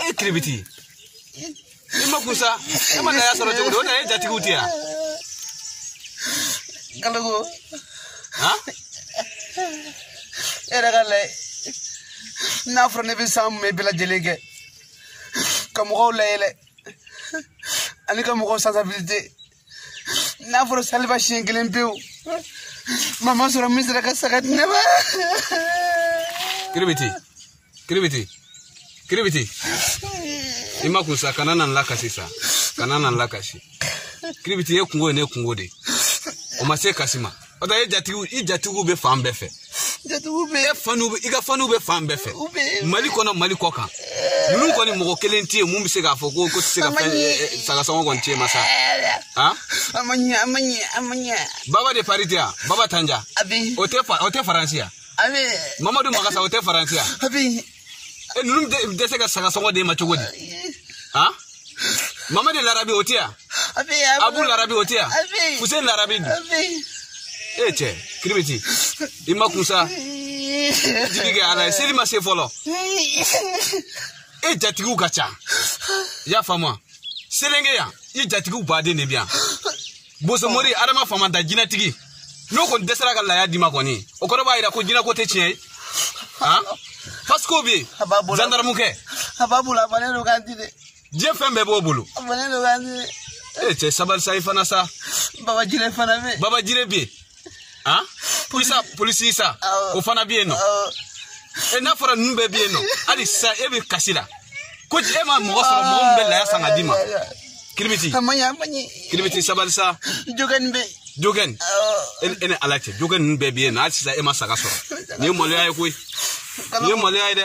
e ye kiribiti i makun sa e ma laya sɔrɔ cogo di o na ye jatigiw tɛ yan kalogo han e yɛrɛ k'a lajɛ n'a fɔra ne bɛ san mumɛ bɛɛ lajɛlen kɛ ka mɔgɔw layɛlɛ ani ka mɔgɔw sansabilite n'a fɔra saliba siɲɛ kelen pewu maa ma sɔrɔ min sera ka saga di ne ma kiribiti kiribiti kiribiti i makun sa kana na n lakasi sa kana na n lakasi kiribiti ye kunko ye ne kunko de o ma se kasi ma o tɛ e jatigiw i jatigiw bɛ fan bɛɛ fɛ jatigiw bɛ e faniw bɛ i ka faniw bɛ fan bɛɛ fɛ u bɛ mali kɔnɔ mali kɔkan ninnu kɔni mɔgɔ kelen tɛ yen mun bɛ se k'a fɔ ko o tɛ se ka fɛn sagasɔngɔ kɔni tɛ yen ma sa han a ma ɲɛ a ma ɲɛ a ma ɲɛ baba de pari tɛ yan baba tanja a bɛ o tɛ fa o tɛ faransi yan a bɛ mamadu makasa o tɛ faransi yan a bɛ e ninnu bɛ dɛsɛ ka sagasɔngɔ d'e ma cogo di han mamadi larabi o tɛ yan abu larabi o tɛ yan fuseni larabi dun e cɛ kiribiti i makun sa jigi kɛ ala ye seli ma se fɔlɔ e jatigiw ka ca i y'a faamu wa selenge yan i jatigiw baden de bɛ yan bosomori adama famanta jinɛtigi n'o kɔni dɛsɛra ka laya d'i ma kɔni o kɔrɔ b'a yira ko jinɛko tɛ tiɲɛ ye han pasiko bɛ yen zandaramukɛ a b'a bolo a bannen don k'a di dɛ diɲɛ fɛn bɛɛ b'o bolo a bannen don k'a di ee cɛ sabali sa i fana sa baba jire fana bɛ yen baba jire bɛ yen han polisa polisi sa o fana bɛ yen nɔ e n'a fɔra ninnu bɛɛ bɛ yen nɔ hali sisan e bɛ kasi la ko e ma mɔgɔ sɔrɔ mɔgɔ min bɛ laya san ka d'i ma kiribiti kiribiti sabali sa jogɛni bɛ jogɛni e ni ala cɛ jogɛni ninnu bɛɛ bɛ yen nɔ hali sisan e ma saga sɔrɔ nin ye maloya ye koyi nin ye maloya ye dɛ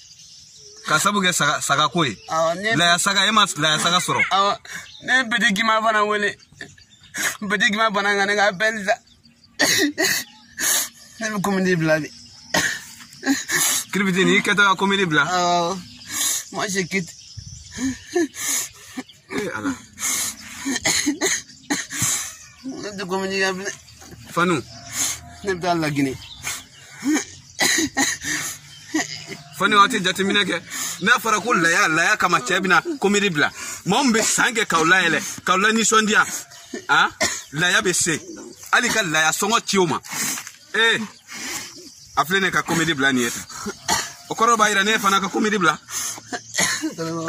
ka sabu kɛ saga saga ko ye laya saga e ma laya saga sɔrɔ ne ye peti gimba fana wele peti gimba banna ka ne ka bɛn sa ne bɛ komedi bila bi kiribitini i kɛtɔ ka komedi bila moi je quitte eh, ala ne tɛ komedi kɛ bilen fanu ne bɛ taa lagine fani waati jateminɛ kɛ n'a fɔra ko laya laya kama cɛ e bɛna komedi bila mɔgɔ min bɛ san kɛ k'aw layɛlɛ k'aw lanisɔndiya a laya bɛ se hali ka laya sɔngɔ ci o ma ee a filɛ ne ka komedi bila nin ye tan o kɔrɔ b'a yira ne fana ka komedi bila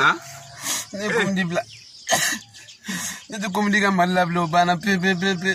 a ne ye komedi bila ne tɛ komedi kɛ mali la bilen o banna pewu pewu pewu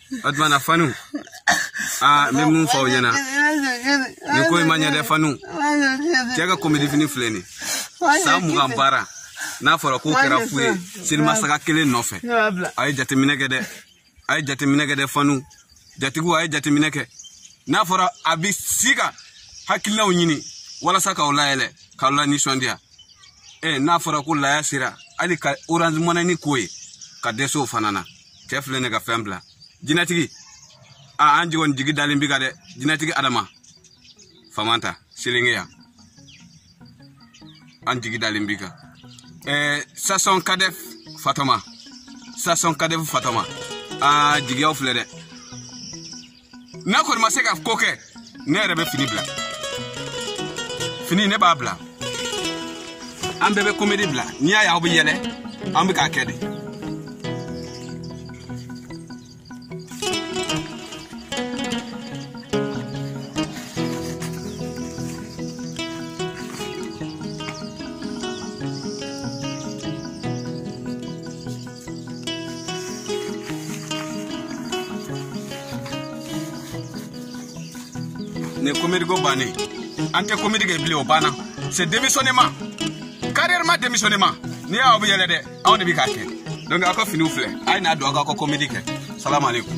o tuma na fanu aa n bɛ mun fɔ aw ɲɛna nin ko in ma ɲɛ dɛ fanu cɛ ka komedifini filɛ nin san mugan baara n'a fɔra k'o kɛra fu ye selibasaga kelen nɔfɛ a ye jateminɛ kɛ dɛ a ye jateminɛ kɛ dɛ fanu jatigiw a ye jateminɛ kɛ n'a fɔra an bɛ si ka hakilinaw ɲini walasa k'aw layɛlɛ k'aw lanisɔndiya ɛ n'a fɔra ko laya sera hali ka orange mɔnɛni k'o ye ka dɛsɛ o fana na cɛ filɛ ne ka fɛn bila jinɛtigi a an ji kɔni jigi dalen b'i kan dɛ jinɛtigi adama famanta selenge yan an jigi dalen b'i kan eh, sasɔn kadɛf fatɔma sasɔn kadɛf fatɔma a jigiyaw filɛ dɛ n'a kɔni ma se ka ko kɛ ne yɛrɛ bɛ fini bila fini ne b'a bila an bɛɛ bɛ komedi bila n'i y'a ye aw bɛ yɛlɛ an bɛ k'a kɛ de nin komediko bannen an tɛ komedi kɛ bilen o banna c'est démissionnement carrément démissionnement n'i y'a aw bɛ yɛlɛ dɛ anw de bɛ k'a kɛ donc aw ka finiw filɛ a ye n'a don aw k'aw ka komedi kɛ salamu aleykum